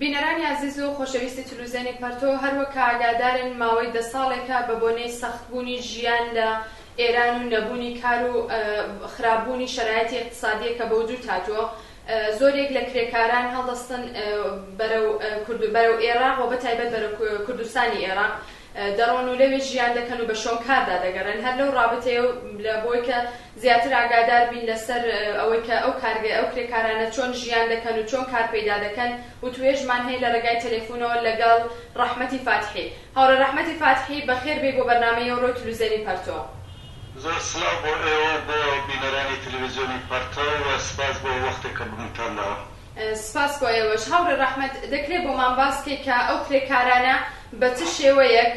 بینەرانی ئازیز و خۆشەویستی تلوزیۆنی پەرتۆ هەروەک کە ئاگادارن ماوەی دە ساڵێکە بە بۆنەی سەخت بوونی ژیان لە ئێران و نەبوونی کار و خراپ بوونی شەرایتی ئیقتسادیە کە بە وجود هاتووە زۆرێک لە کرێکاران هەڵدەستن بەرەو کوردو بەرەو ئێراق وە بەتایبەت بەرەو کوردستانی ئێراق دەڕۆن و لەوێ ژیان دەکەن و بە شۆن کاردا دەگەڕێن هەر لەو ڕابتەیەو لە بۆی کە زیاتر ئاگادار بین لەسەر ئەوەی کە ئەو کارگەی ئەو کرێکارانە چۆن ژیان دەکەن و چۆن کار پەیدا دەکەن وتوێژمان هەیە لە رێگای تەلەفونەوە لەگەڵ رەحمەتی فاتحی. هاوڕێ رەحمەتی فاتحی بەخێر بێی بۆ بەرنامەی ئەوڕۆی تلوزێنی پەرتۆ. زۆر سلاو بۆ ئێوە و بۆ بینەرانی تلویزیۆنی پەرتۆ و سپاس بۆ وەختێک کە بمتان داوە. سپاس بۆ ئێوەش. هاوڕێ ڕەحمەت دەکرێ بۆمان باس کەی کە ئەو کرێکارانە بە چ شێوەیەک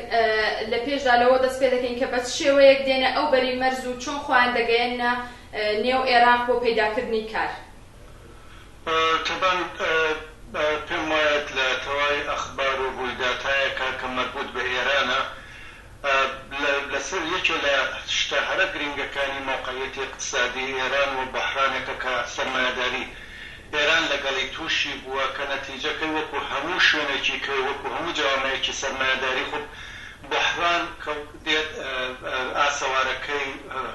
لە پێشدا لەوە دەست پێ دەکەین کە بە چ شێوەیەک دێنە ئەو بەری مەرز و چۆن خۆیان دەگەیەننە نێو ئێراق بۆ پەیدا کردنی کار؟ تەبان پێم وایە لە تەواوی ئەخبار و ڕوویداتایەکە کە مەربووت بە ئێرانە، لە سەر یەکێ لە شتە هەرە گرینگەکانی مەوقعیەتی ئیقتسادی ئێران و بوحرانێکە کە سەرمایەداری ئێران لە گەڵی تووشی بووە کە نەتیجە کەی وەکوو هەموو شوێنێکی کەی وەکوو هەموو جەوامەیەکی سەرمایەداری خوب بوحران کە دێت ئاسەوارە کەی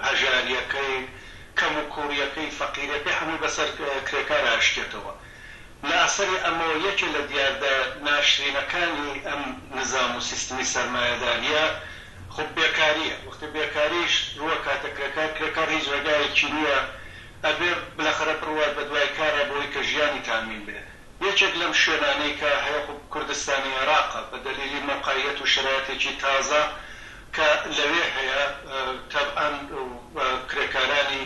هەژاریەکەی کەموکووڕیەکەی فەقیریەکەی هەمووی بەسەر کرێکارا ئەشکێتەوە لە ئەسەری ئەمەوە یەکێ لە دیاردە ناشرینەکانی ئەم نزام و سیستمی سەرمایەداریە خۆ بێکاریە، وەختێ بێکاریش رووەکاتە کرێکار، کرێکار هیچ رێگایەکی نیە ئەبێ بلەخەرە بروات بە دوای کارا بەوەی کە ژیانی تامین بێ. یەکێک لەم شوێنانەی کە هەیە خۆ کوردستانی عێراقە بە دەلیلی مەوقعیەت و شەرایەتێکی تازە کە لەوێ هەیە تەبعەن کرێکارانی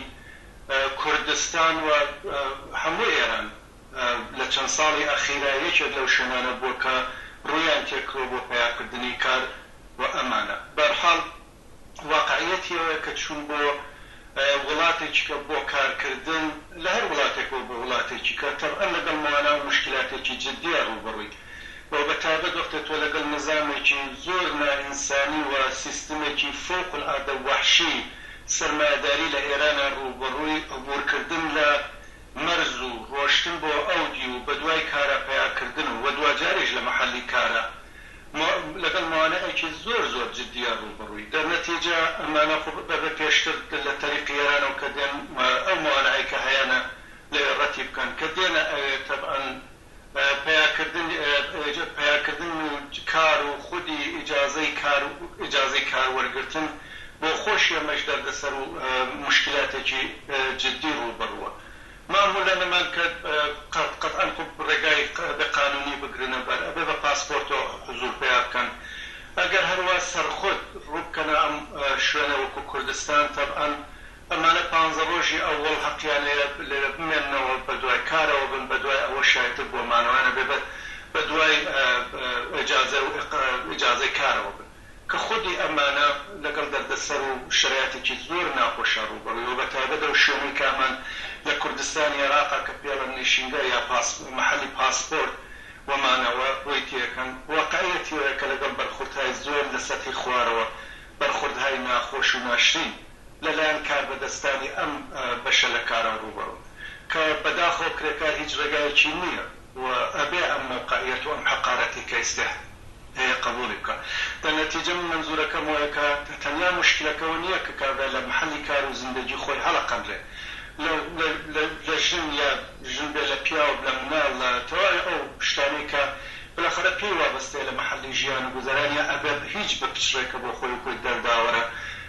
کوردستان و هەموو ئێران لە چەند ساڵی ئەخیرا یەکێک لەو شوێنانە بووە کە ڕوویان تێکڕووە بۆ پەیاکردنی کار و ئەمانە بەرحاڵ واقعیەتی ئەوەیە کە چوون بۆ وڵاتێکیکە بۆ کارکردن لە هەر وڵاتێکەوە بۆ وڵاتێکیکە تەبعەن لەگەڵ موانا و موشکیلاتێکی جدیە ڕووبەڕووی و بە تایبەت وەختێ تۆ لەگەڵ نیزامێکی زۆر نائینسانی و سیستمێکی فوق العادە وەحشی سەرمایەداری لە ئێرانە ڕووبەڕووی عبورکردن لە مەرز و ڕۆشتن بۆ ئەودیو و بەدوای کارە پەیاکردن و دواجاریش لە مەحەلی کارا لەگەڵ موانەئێکی زۆر زۆر جدیە ڕووبەڕووی دەرنەتیجە ئەمانە خۆ بەبێ پێشتر لە تەریقی ئێرانەوە کە دێن ئەو موانەئەی کە هەیانە لەوێ ڕەتی بکەن کە دێنە ئەوێ تەبعەن پیاکردن و کار و خودی ئیجازەی کار و ئیجازەی کار وەرگرتن بۆ خۆشی ئەمەش دەردەسەر و موشکیلاتێکی جدی ڕووبەڕووە ماموولە نەمان کە قەتعەن خۆ ڕێگای ئەبێ قانوونی بگرنە بەر ئەبێ بە پاسپۆرتەوە حزوور پیا بکەن ئەگەر هەروا سەرخود ڕووبکەنە ئەم شوێنە وەکوو کوردستان تەبعەن ئەمانە پانزە ڕۆژی ئەوەڵ هەقیان هەیە لێرە بمێننەوە بەدوای کارەوە بن بەدوای ئەوە شایەتر بووە مانەوەیان هەبێ بە بەدوای ئێجازە و ئێجازەی کارەوە بن کە خودی ئەمانە لەگەڵ دەردەسەر و شەرایەتێکی زۆر ناخۆشە ڕووبەڕووی وە بەتایبەت ئەو شوێنەی کە ئەمان لە کوردستانی عێراقە کە پێڵن نیشینگا یا پاس مەحەلی پاسپۆرت و مانەوە ڕووی تێکەن واقعیەتی ئەوەیە کە لەگەڵ بەرخوردهای زۆر لە سەتحی خوارەوە بەرخوردهای ناخۆش و ناشرین لەلایەن کاربەدەستانی ئەم بەشە لە کارەوە ڕووبەڕوون، کە بەداخەوە کرێکار هیچ ڕێگایەکی نییە و ئەبێ ئەم مەوقعیەت و ئەم حەقارەتی کە ئیستێ هەیە قەبووڵی بکا. لە نەتیجە من مەنزوورەکەم وایە کە تەنیا موشکیلەکە ئەوە نییە کە کابرا لە محەلی کار و زیندەگی خۆی هەڵەقەنرێ لە لە ژن یا ژن بێ لە پیاو لە مناڵ لە تەواوی ئەو شتانەی کە بەلاخەرە پێی وابەستەیە لە محەلی ژیان و گوزەران یا ئەبێ هیچ بپچڕێ کە بۆ خۆی و کۆی دەرداوەرە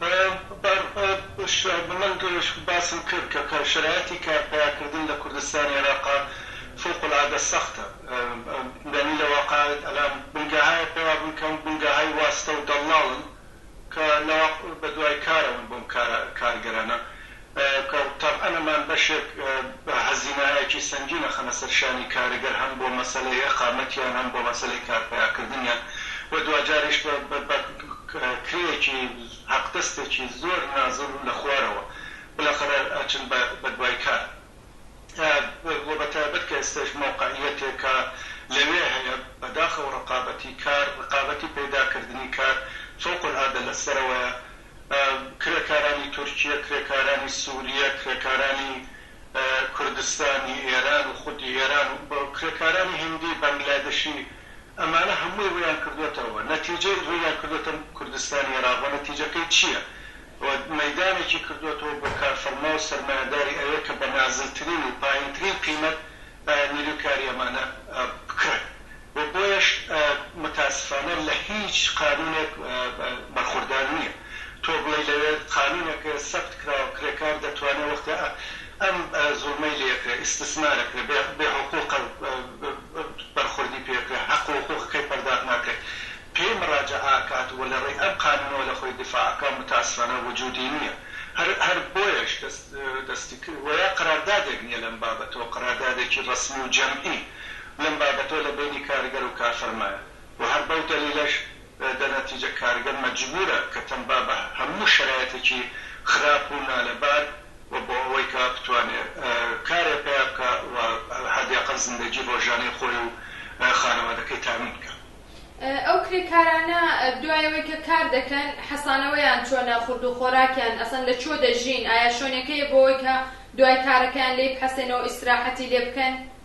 من باسم کرد کە شەرایەتی کار پەیا کردن لە کوردستان عێراقا فوق العادە سەختە یانی لە واقع ئەلان بنگەهای پەیا بوون کە بنگەهای واستە و دەڵاڵن کە لە واقع بە دوای کارەوەن بۆم کارە کارگەرانە کە تەبعەن ئەمان بەشێک هەزینەهایەکی سەنگین ئەخەنە سەر شانی کارگەر هەم بۆ مەسەلەی ئیقامەتیان هەم بۆ مەسەلەی کار پەیاکردنیان و دواجاریش بە بە کرێیەکی هەقدەستێکی زۆر نازل و لە خوارەوە بلاخەرە ئەچن بە بە دوای کار و بە تایبەت کە ئێستەش مەوقعیەتێکە لەوێ هەیە بەداخەوە ڕەقابەتی کار ڕەقابەتی پەیدا کردنی کار فوق العادە لە سەرەوەیە کرێکارانی تورکیە، کرێکارانی سوریە، کرێکارانی کوردستانی ئێران و خودی ئێران و کرێکارانی هندی بەنگلادشی ئەمانە هەمووی ڕوویان کردۆتەوە نەتیجەی ڕوویان کردۆتە کوردستانی ئێراق و نەتیجەکەی چیە و مەیدانێکی کردۆتەوە بۆ کارفەرما و سەرمایەداری ئەوێ کە بە نازلترین و پایینترین قیمەت نیروی کاری ئەمانە بکڕێ و بۆیەش متاسفانە لە هیچ قانونێک بەرخوردار نیە تۆ بڵێی لەوێ قانونێک سەبت کراوە کرێکار دەتوانێ وەختێ ئەم زوڵمەی لێکرێ ئیستسمارەکرێ بێ حقوقە بەرخوردی پێکرێ حەق و حقوقەکەی پەرداخ ناکرێ پێی مراجەعە کات وە لەڕێی ئەم قانونەوە لەخۆی دیفاع ئەکا متاسفانە وجودی نیە هەر هەر بۆیەش دەستی وەیا قەراردادێک نیە لەم بابەتەوە قەراردادێکی ڕەسمی و جەمعی لەم بابەتەوە لە بەینی کارگەر و کار فەرمایە و هەر بەو دەلیلەش دە نەتیجە کارگەر مەجبوورە کە تەنبا بە هەموو شەرایتێکی خراپ و نالەبار و بۆ ئەوەی کە بتوانێ کارێ پەیا بکا و حەدی ئەقەل زندەگی ڕۆژانەی خۆی و خانەوادەکەی تامین بکا. ئەو کرێکارانە دوای ئەوەی کە کار دەکەن حەسانەوەیان چۆنە، خورد و خۆراکیان ئەسەن لە چۆ دەژین، ئایا شۆنێکەیە بۆ ئەوەی کە دوای کارەکەیان لێی بحەسێنەوە ئیسراحەتی لێ بکەن؟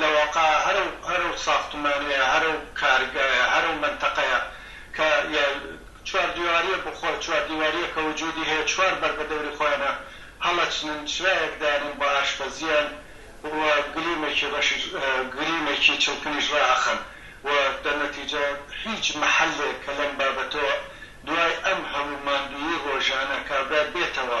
لە واقع هەر ئەو هەر ئەو ساختمانەیە هەر ئەو کارگایە هەر ئەو مەنتەقەیە کە یا چوار دیواریە بۆ خۆ چوار دیواریە کە وجودی هەیە چوار بەر بە دەوری خۆیانە هەڵەچنن چرایەک دانێن بە ئاشپەزیان و گلیمێکی ڕەشیش گلیمێکی چڵکنیش ڕائەخەن و دە نەتیجە هیچ مەحەلێک کە لەم بابەتەوە دوای ئەم هەموو ماندوویی ڕۆژانە کابرا بێتەوە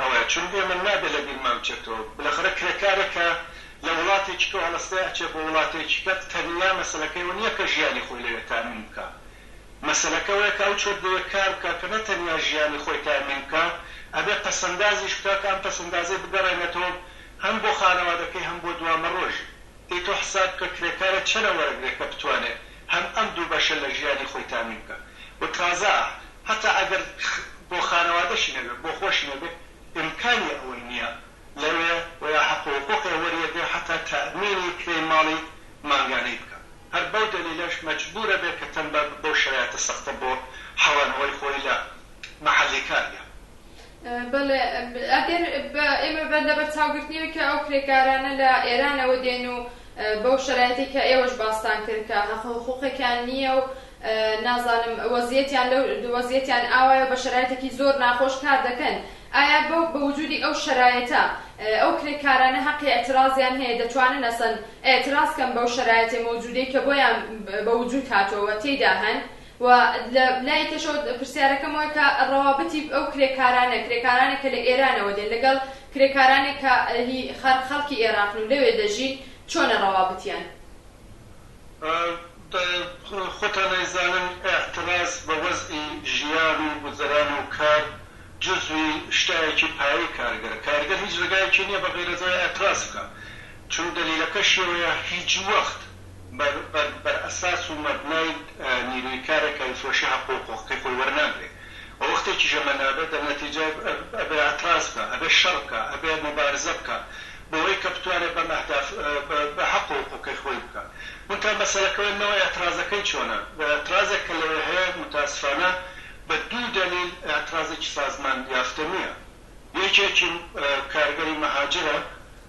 ئەوەیە چون بێ من نابێ لە بیرمان بچێتەوە بلەخەرە کرێکارێک کە لە وڵاتێکی کەو هەڵەستێ ئەچێ بۆ وڵاتێکی کە تەنیا مەسەلەکەی ئەوە نیە کە ژیانی خۆی لەوێ تامین بکا مەسەلەکە ئەوەیە کە ئەو چۆت لەوێ کار بکا کە نە تەنیا ژیانی خۆی تامین بکا ئەبێ پەسەندازیش بکا کە ئەم پەسەندازەی بگەڕێنێتەوە هەم بۆ خانەوادەکەی هەم بۆ دوامەڕۆژی دەی تۆ حساب بکە کرێکارێ چەنە وەرەگرێ کە بتوانێ هەم ئەم دوو بەشە لە ژیانی خۆی تامی بکا و تازە هەتا ئەگەر بۆ خانەوادەشی نەبێ بۆ خۆشی نەبێ ئیمکانی ئەوەی نیە لەوێ و یا حەق و حقوقێ وەریەگرێ هەتا تامینی کرێی ماڵی مانگانەی بکا هەر بەو دەلیلەش مەجبورە بێ کە تەمبەر بەو شەرایتە سەختە بۆ حەوانەوەی خۆی لە مەحەلی کار یا بەڵێ ئەگەر ئێمە بە لەبەرچاوگرتنیەوەی کە ئەو کرێکارانە لە ئێرانەوە دێن و بەو شەرایتەی کە ئێوەش باستان کرد کە هەق و حقوقێکیان نییە و نازانم وەزیەتیان لەو وەزیەتیان ئاوایە و بە شەرایتێکی زۆر ناخۆش کار دەکەن ئایا بەو بە وجودی ئەو شەرایتە ئەو کرێکارانە هەقی ئیعترازیان هەیە دەتوانن ئەسەن ئیعتراز کەن بەو شەرایتە مەوجودەی کە بۆیان بە وجود هاتووە و تێیدا هەن و لە لای کەشەوە پرسیارەکەم وای کە ڕەوابتی ئەو کرێکارانە کرێکارانێک کە لە ئێرانەوە دێن لەگەڵ کرێکارانێک کە هی خەر خەڵکی ئێراقن و لەوێ دەژین چۆنە ڕەوابتیان؟ دە خۆتان نایزانن ئیعتراز بە وەزعی ژیان و گوزەران و کار جزوی شتایەکی پایەی کارگەرە کارگەر هیچ ڕێگایەکی نیە بەغەیرەزەوە ئیعتراز بکا چون دەلیلەکەشی ئەوەیە هیچ وەخت بەر ئەساس و مەبنای نیروی کارە کە فرۆشی حقوق و حقی خۆی وەرناگرێ و وەختێکیش ئەمە نابێ دە نەتیجە ئەبێ ئەتراز بکا ئەبێ شەڕ بکا ئەبێ موبارزە بکا بەوەی کە بتوانێ بەم ئەهداف بە حەق و حقوقی خۆی بکا مونتها مەسەلەکە ئەوەیە نەوەی ئەترازەکەی چۆنە ئەترازێک کە لەوێ هەیە موتاسفانە بە دوو دەلیل ئەترازێکی سازمان یافتە نیە یەکێکی کارگەری مەهاجرە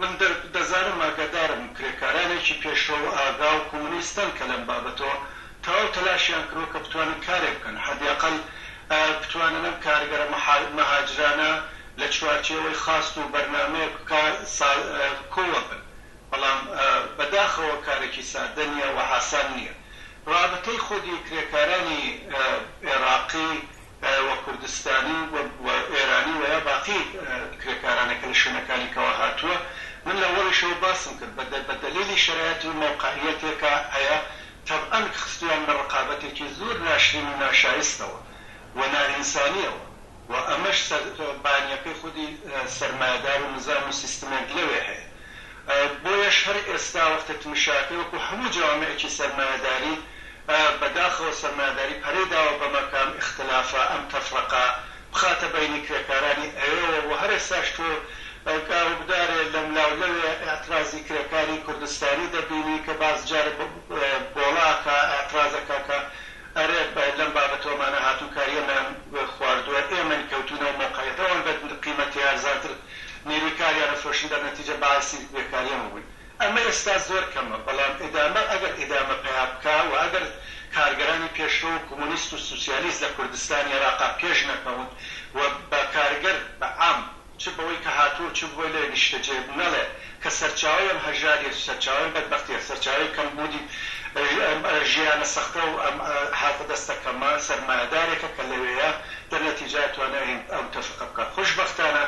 من دەزانم ئاگادارم کرێکارانێکی پێشڕەو و ئاگا و کۆمۆنیستن کە لەم بابەتەوە تەواو تەلاشیان کردووە کە بتوانن کارێک بکەن، حەدیئەقەل بتوانن ئەم کارگەرە مەهاجرانە لە چوارچێوەی خواست و بەرنامەیەک کۆوە بن، بەڵام بە داخەوە کارێکی سادە نییە و ئاسان نییە. رابتەی خودی کرێکارانی ئێراقی وە کوردستانی و ئێرانی وە یا باقی کرێکارانە کە لە شوێنەکانی کەوە هاتووە من لە وەڵیشەوە باسم کرد بە دە بە دەلیلی شەرایەتی و مەوقعیەتێکە هەیە تەبعەن خستویان لە ڕقابەتێکی زور ناشرین و ناشایستەوە و نائینسانیەوە و ئەمەش سەر بانیەکەی خودی سەرمایەدار و نزام و سیستمێک لەوێ هەیە بۆیەش هەر ئێستا وەختە تمشاکە وەکو هەموو جەوامعێکی سەرمایەداری بە داخەوە سەرمایەداری پەرەی داوە بە مەکە ئەم ئیختلافە ئەم تەفرەقە بخاتە بەینی کرێکارانی ئەوێوە و هەر ئێستاش تۆ گاروگدارێ لەم لا و لەوێ ئیعترازی کرێکاری کوردستانی دەبینی کە باس جارێ بۆڵا ئەکا ئیعتراز ئەکا کە ئەرێ لەم بابەتەوە ئەمانە هاتوون کارییەمان خواردووە ئێمەین کەوتوو نەو مەوقعیەت ئەوان بە قیمەتێ ئەرزانتر نیروی کاریان ئەفرۆشن دەر نەتیجە بایسی بێکاریان ببن ئەمە ئێستا زۆر کەمە بەڵام ئیدامە ئەگەر ئیدامە پەیا بکا وە ئەگەر کارگەرانی پێشرەو و کومونیست و سوسیالیست لە کوردستان ئێراقا پێش نەکەون و بە کارگەر بە عام چ بەوەی کە هاتوە و چ بەوەی لێ نیشتەجێ نەڵێ کە سەرچاوەی ئەم هەژاریە و سەرچاوەی بەدبەختیە، سەرچاوەی کەمبوونی ئەم ژیانە سەختە و ئەم هاتە دەستە کەمە، سەرمایەدارێکە کە لەوێیە دەنێ تیجارەت و ئەنێ ئەو تەفقە بکا. خوشبەختانە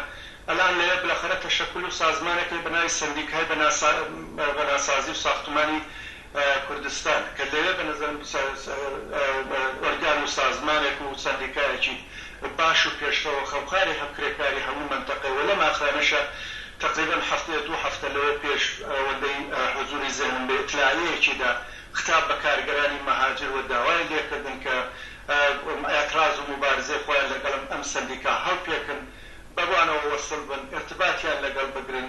ئەلئان لەوێ بلەخەنە تەشەکول و سازمانێک هەیە بە ناوی سەندیکای بەناسازی و ساختمانی کوردستان، کە لەوێ بە نەزەرم ئۆرگان و سازمانێک و سەندیکایەکی باش و پێشڕەوە خەوکاری هەم کرێکاری هەموو مەنتەقەی و لەم ئاخرانەشە تەقریبەن هەفتەیە دوو هەفتە لەوێ پێش ئەوەندەی حوزوری زێنم بێ ئیتلاعیەیەکی دا ختاب بە کارگەرانی مەهاجر و داوای لێ کردن کە ئێعتراز و موبارزەی خۆیان لەگەڵم ئەم سەندیکا هەڵپێکن بەوانەوە وەسڵ بن ئیرتباتیان لەگەڵ بگرن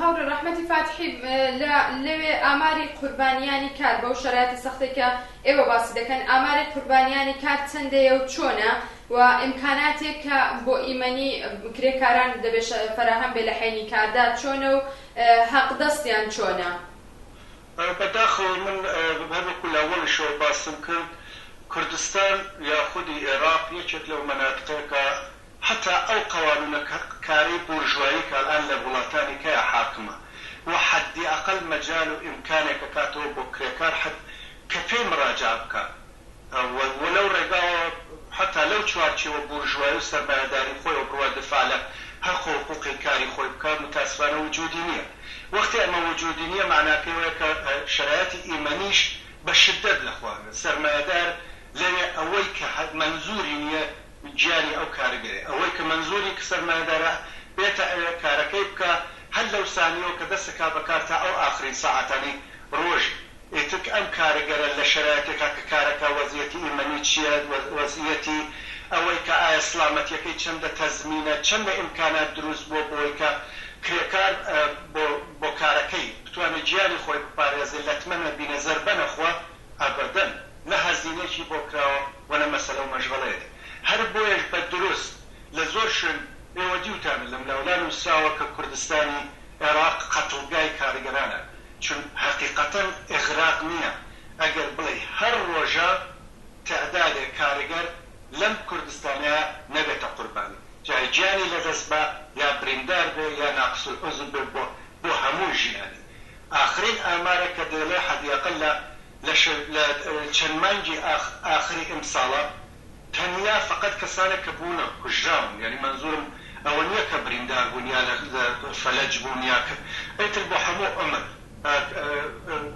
هاوڕێ ڕەحمەتی فاتحی، لە لەوێ ئاماری قوربانیانی کار بەو شەرایتە سەختەی کە ئێوە باسی دەکەن ئاماری قوربانیانی کار چەندەیە و چۆنە و ئیمکاناتێک کە بۆ ئیمەنی کرێکاران دەبێ فەراهەم بێ لە حەینی کاردا چۆنە و هەق دەستیان چۆنە؟ بەداخەوە من هەر وەکو لە ئەوەڵیشەوە باسم کرد کوردستان یا خودی ئێڕاق یەکێک لەو مەناتقەیە کە هەتا ئەو قەوانونە کە کارەی بۆرژوایی کە ئەلئان لە وڵاتانی کەیا حاکمە و حەدی ئەقەل مەجال و ئیمکانێک ئەکاتەوە بۆ کرێکار حد کە پێی مراجعە بکا و و لەو ڕێگاوە هەتا لەو چوارچێوە بۆرژوایی و سەرمایەداری خۆیەوە بڕوا دفاع لە هەق و حقوقی کاری خۆی بکا متاسفانە وجودی نیە وەختی ئەمە وجودی نیە مەعناکەی ئەوەیە کە شەرایەتی ئیمەنیش بە شدەت لە خوارە سەرمایەدار لەوێ ئەوەی کە هە مەنزوری نیە گیانی ئەو کارگەیە ئەوەی کە مەنزوری کە سەرمایەدارە بێتە ئەوێ کارەکەی بکا هەر لەو سانیەوە کە دەست ئەکا بە کار تا ئەو ئاخرین سەعاتانی ڕۆژی ئیتر کە ئەم کارگەرە لە شەرایتێکا کە کارەکا وەزیەتی ئیمەنی چیە وەزیەتی ئەوەی کە ئایا سڵامەتیەکەی چەندە تەزمینە چەندە ئیمکانات دروست بوە بۆی کە کرێکار بۆ کارەکەی بتوانێ گیانی خۆی بپارێزێ لەتمە نەبینێ زەربە نەخوا ئەبەدەن نە هەزینەیەکی بۆ کراوە و نە مەسەلە و مەشغەڵەیەک. هەر بۆیەش بە دروست لە زۆر شوێن ئێوە دیوتانە لەملاولا نووسراوە کە کوردستانی عێراق قەتڵگای کارگەرانە، چون هەقیقەتەن ئیغراق نییە ئەگەر بڵێی هەر ڕۆژە تەعدادێ کارگەر لەم کوردستانەیا نەبێتە قوربانی جا گیانی لەدەست با یا بریندار بێ یا ناقسولعوزو بێ بۆ بۆ هەموو ژیانی ئاخرین ئامارە کە دەیڵێ حەدیاقل لە لە لە چەند مانگی ئاخری ئیمساڵە تەنیا فەقەت کەسانێک کە بوونە کوژراون یانی مەنزوورم ئەوە نییە کە بریندار بوون یا لە لە فەلەج بوون یا کە ئیتر بۆ هەموو عومر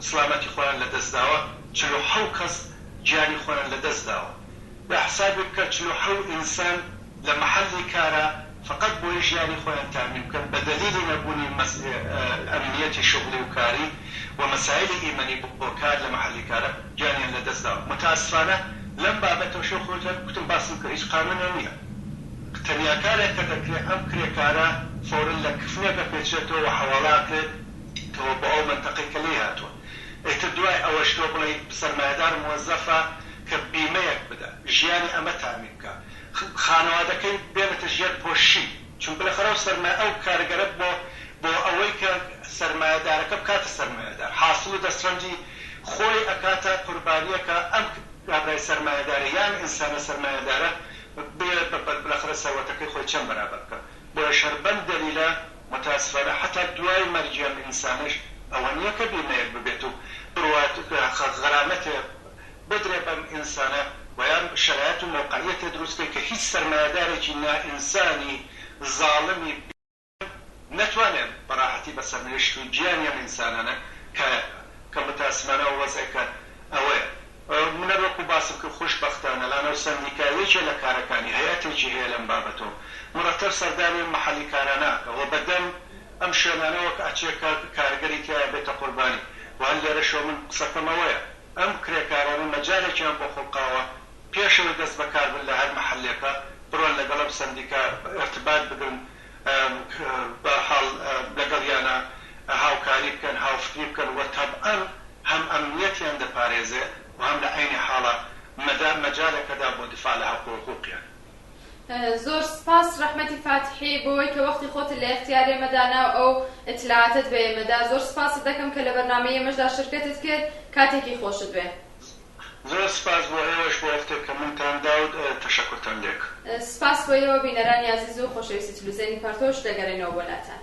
سڵامەتی خۆیان لە دەست داوە چل و حەو کەس گیانی خۆیان لە دەست داوە. جا حسابی بکە چل و حەو ئینسان لە مەحەلی کارا فەقەت بۆی ژیانی خۆیان تامین بکەن بە دەلیلی نەبوونی ئەمنیەتی شوغڵی و کاری و مەسایلی ئیمەنی بۆ کار لە مەحەلی کارا گیانیان لە دەست داوە متاسفانە لەم بابەتەش وەک خۆت هەر گوتم باسم کرد هیچ قانونێ نیە تەنیا کارێک کە دەکرێت ئەم کرێکارە فەورەن لە کفنێک ئەپێچرێتەوە و حەواڵە ئەکرێت تەوە بۆ ئەو مەنتەقەی کە لێی هاتووە ئیتر دوای ئەوەش تۆ بڵێی سەرمایەدار موەزەفە کە بیمەیەک بدا ژیانی ئەمە تامین بکا خانەوادەکەی بێنێتە ژێر پۆششی، چونکە لە خەرا و سەرمایە ئەو کارگەرە بۆ بۆ ئەوەی کە سەرمایەدارەکە بکاتە سەرمایەدار حاسڵ و دەستڕەنجی خۆی ئەکاتە قوربانیەکە ئەم کابرای سەرمایەدارە یان ئینسانە سەرمایەدارە بێ بە بەر بلەخرە سەروەتەکەی خۆی چەند بەرابەر بکا بۆیەش هەر بەم دەلیلە متاسفانە حەتا دوای مەرگی ئەم ئینسانەش ئەوە نیە کە بیمەیەک ببێت و بڕوات کە غەرامەتێ بدرێ بەم ئینسانە و یان شەرایەت و مەوقعیەتێ دروست کەی کە هیچ سەرمایەدارێکی نائینسانی زاڵمی بی کەم نەتوانێ بە ڕاحەتی بە سەرنوێشت و گیانی ئەم ئینسانانە کایە بکا کە موتاسمانە وەزعێکە ئەوەیە منەر وەکو باسم کرد خوش بەختانە لانە و سەندیکا یەکێ لە کارەکانی هەیئەتێکی هەیە لەم بابەتە و مڕەتەب سەردانی ئەم مەحەلی کارانە ئەکا و بە دەم ئەم شوێنانەوە ئەچێ کە کارگەری تیایە بێتە قوربانی و هەر لێرەشەوە من قسەکەم ئەوەیە ئەم کرێکارانە مەجالێکیان بۆ خوڵقاوە پێش ئەوەی دەست بەکار بن لە هەر مەحەلێکا بڕۆن لەگەڵ ئەم سەندیکا ئیرتبات بگرن بەرحاڵ لەگەڵیانا هاوکاری بکەن هاوفکری بکەن و تەبعەن هەم ئەمنیەتیان دەپارێزێ و هەم لە عەینی حاڵا مەدا مەجالێکەدا بۆ دفاع لە هەقوو و حقووقیان. زۆر سپاس ڕەحمەتی فاتیحی بۆوەی کە وەختی خۆتت لە ئێختیار ئێمە دانا و ئەو ئیتلاعاتەت بە ئێمە دا. زۆر سپاست دەکەم کە لە بەرنامەی ئێمەش دا شرکەتت کرد. کاتێکی خۆشت بێ. زۆر سپاس بۆ ئێوەش بۆ وەختێک کە منتان دا و تەشەکورتان لێک. سپاس بۆ ئێوە بینەرانی ئازیز و خۆشەویستی تلوزیۆنی پەڕتۆش. دەگەرێنەوە بۆ لاتان.